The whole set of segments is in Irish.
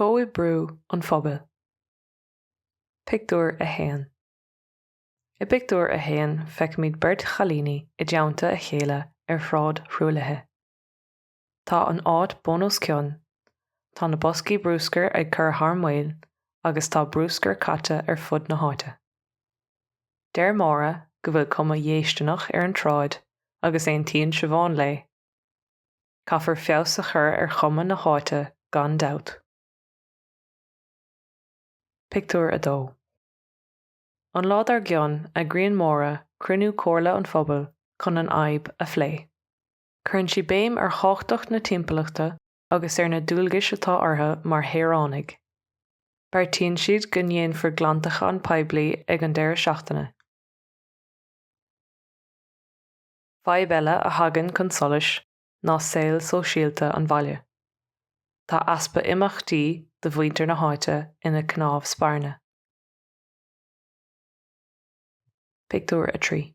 Comhoibriú an Phobail. Pictiúr 1 I bpictiúr a haon feicimid beirt chailíní i dteannta a chéile ar shráid thruaillithe. Tá an áit bun os cionn, tá na boscaí brúscair ag cur thar maoil agus tá brúscar caite ar fud na háite. Deir Máire go bhfuil cuma dhéistineach ar an tsráid agus aontaíonn Siobhán léi. Caithfear feabhas a chur ar chuma na háite gan dabht. Pictiúr 2 An lá dár gcionn, eagraíonn Máire cruinniú Comhairle an Phobail chun an fhadhb a phlé. Cuireann sí béim ar thábhachtacht na timpeallachta agus ar na dualgais atá orthu mar shaoránaigh. Beartaíonn siad go ndéanfar glantachán poiblí ag an deireadh seachtaine. Fadhb eile a thagann chun solais ná saol sóisialta an bhaile. Tá easpa imeachtaí do mhuintir na háite ina cnámh spairne. Pictiúr 3.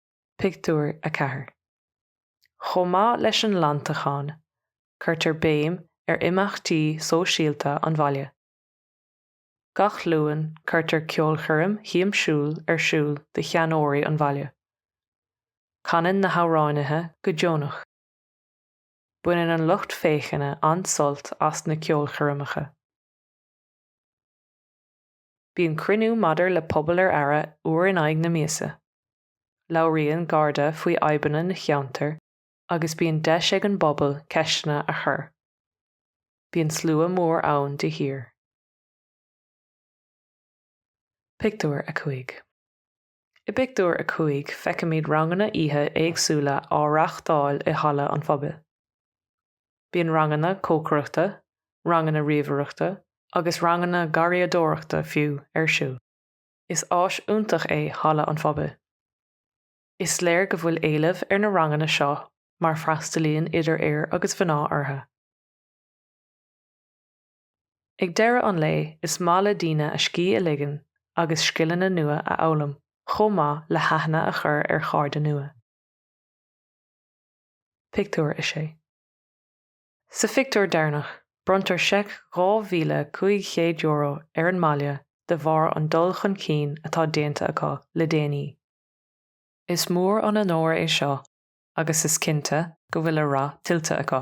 Pictiúr 4 Chomh maith leis an nglantachán, cuirtear béim ar imeachtaí sóisialta an bhaile. Gach Luan cuirtear ceolchoirm shiamsiúil ar siúl do sheanóirí an bhaile. Canann na hamhránaithe go deonach. Baineann an lucht féachana an-sult as na ceolchoirmeacha. Bíonn cruinniú maidir le Pobal ar Aire uair in aghaidh na míosa. Labhraíonn Garda faoi fhadhbanna na cheantar agus bíonn deis ag an bpobal ceisteanna a chur. Bíonn slua mór ann de shíor. Pictiúr 5. I bpictiúr a cúig feicimid ranganna oíche éagsúla á reáchtáil i halla an phobail. Bíonn ranganna cócaireachta, ranganna ríomhaireachta agus ranganna garraíodóireachta fiú, ar siúl. Is áis iontach é halla an phobail. Is léir go bhfuil éileamh ar na ranganna seo mar freastalaíonn idir fhir agus mhná orthu. Ag deireadh an lae, is maith le daoine a scíth a ligean agus scileanna nua a fhoghlaim chomh maith le haithne a chur ar chairde nua. Pictiúr 6 Sa phictiúr deireanach, bronntar seic €2,500 ar an mbaile de bharr an dul chun cinn atá déanta acu le déanaí. Is mór an onóir é seo agus is cinnte go bhfuil a rath tuillte acu.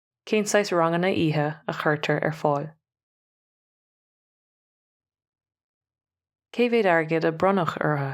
Cén saghas ranganna oíche a chuirtear ar fáil? Cé mhéad airgid a bronnadh orthu?